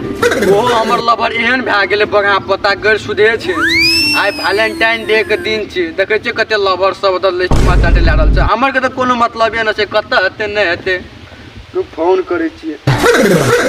ओहो हमर लवर एहन भए गेलै बगा पता गैर सुधे छै आइ वैलेंटाइन डे के दिन छै देखै छियै कते लवर सब ओतऽ लिस्ट मे चाटे लए रहल छै हमर के तऽ कोनो मतलबे नहि छै कतऽ हेतै नहि हेतै तू फोन करै छियै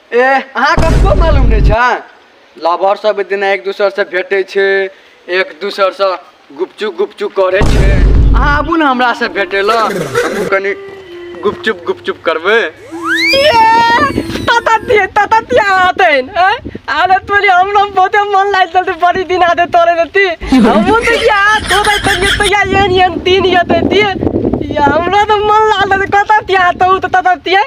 ए अहाँ कतको मालूम नहि छै लवर सब एक दिन एक दोसर से भेटै छै एक दोसर से गुपचुप गुपचुप करै छै अहाँ आबू ने हमरा से भेटै लए हमहूँ कनि गुपचुप गुपचुप करबै ताता दिए ताता दिए आतेन अरे तोरी हम लोग बहुते मन लाग चलते बड़ी दिन आते तोरे रहती हमू तो क्या तो भाई तो ये तो क्या ये नहीं तीन ये तो दिए या हमरा तो मन लाग चलते कता दिया तो तो ताता दिए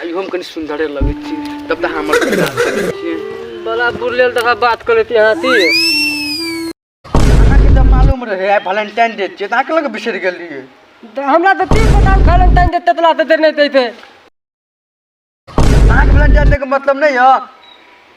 आई हम कनी सुंदरे लगे छी तब तक हमर इलाज करै छी बड़ा बुरलेल तका बात कर लेती हाथी अहाँ के तऽ मालूम रहे आई वैलेंटाइन डे छै तऽ अहाँ के लग बिसरि गेल रहिए त हमरा त तीन सौ साल वैलेंटाइन डे ततला त देने दैते अहाँ के वैलेंटाइन डे के मतलब नहीं है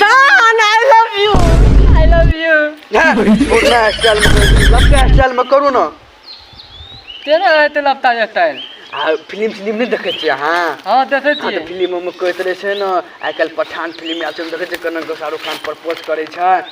जान I love you I love you पुरना स्टाइल में लपटा स्टाइल में करू ना तेरा है ते लपटा स्टाइल आ फिल्म फिल्म नहीं देखे छियै अहाँ हां देखे हाँ छियै तो फिल्म में कहते रहे छै ना आइ काल्हि पठान फिल्म आयल छै देखै छै कनक शाहरुख खान प्रपोज करै छै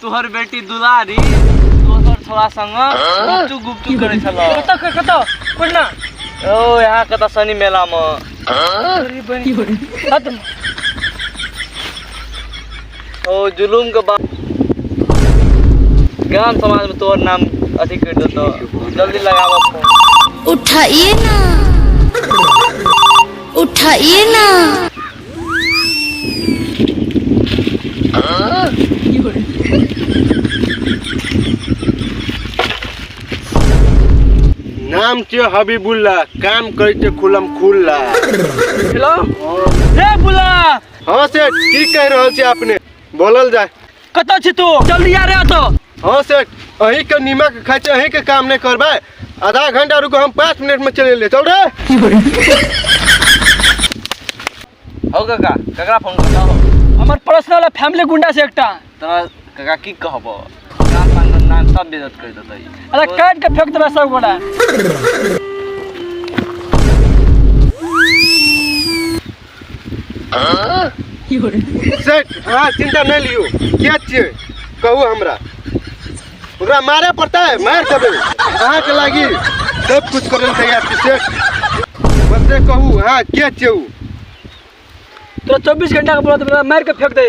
तोहर बेटी दुलारी दोसर छोरा संग गुपचू गुपचू करै छला कतऽ क- कतऽ कोना ओ यहाँ कतऽ शनि मेला मे अरे बहिन हद ओ जुलूम के बाद गाम समाज में तोहर नाम अथी कर देतो जल्दी लगावा फोन उठाइए ना उठाइए ना नाम थियो हबिबुल्ला काम करै थियो खुलम खुल्ला हेलो रे बुला हाँ सेठ की कह रहल छी आपने बोलल जाए कतऽ छी तू जल्दी आ रे तो हाँ सेठ अही के नीमक खाइ छै अही के काम नहीं करबै आधा घंटा रुको हम पाँच मिनट में चले ले चल रे हो काका ककरा फोन करता हो हमर पर्सनल आ फैमिली गुंडा से एकटा तोरा काका की कहब काम पान धंधा में सब बेजत कर देतै अरे काट के फेंक देबे सब गोड़ा सेठ अहाँ चिंता नहि लियौ किया छियै कहू हमरा ओकरा मारे पड़तै मारि देबै अहाँके लागी सब कुछ करै लए तैयार छी सेठ बस से कहू अहाँ के छियै ओ तोरा चौबीस घंटा के बोलत मार के फेंक दे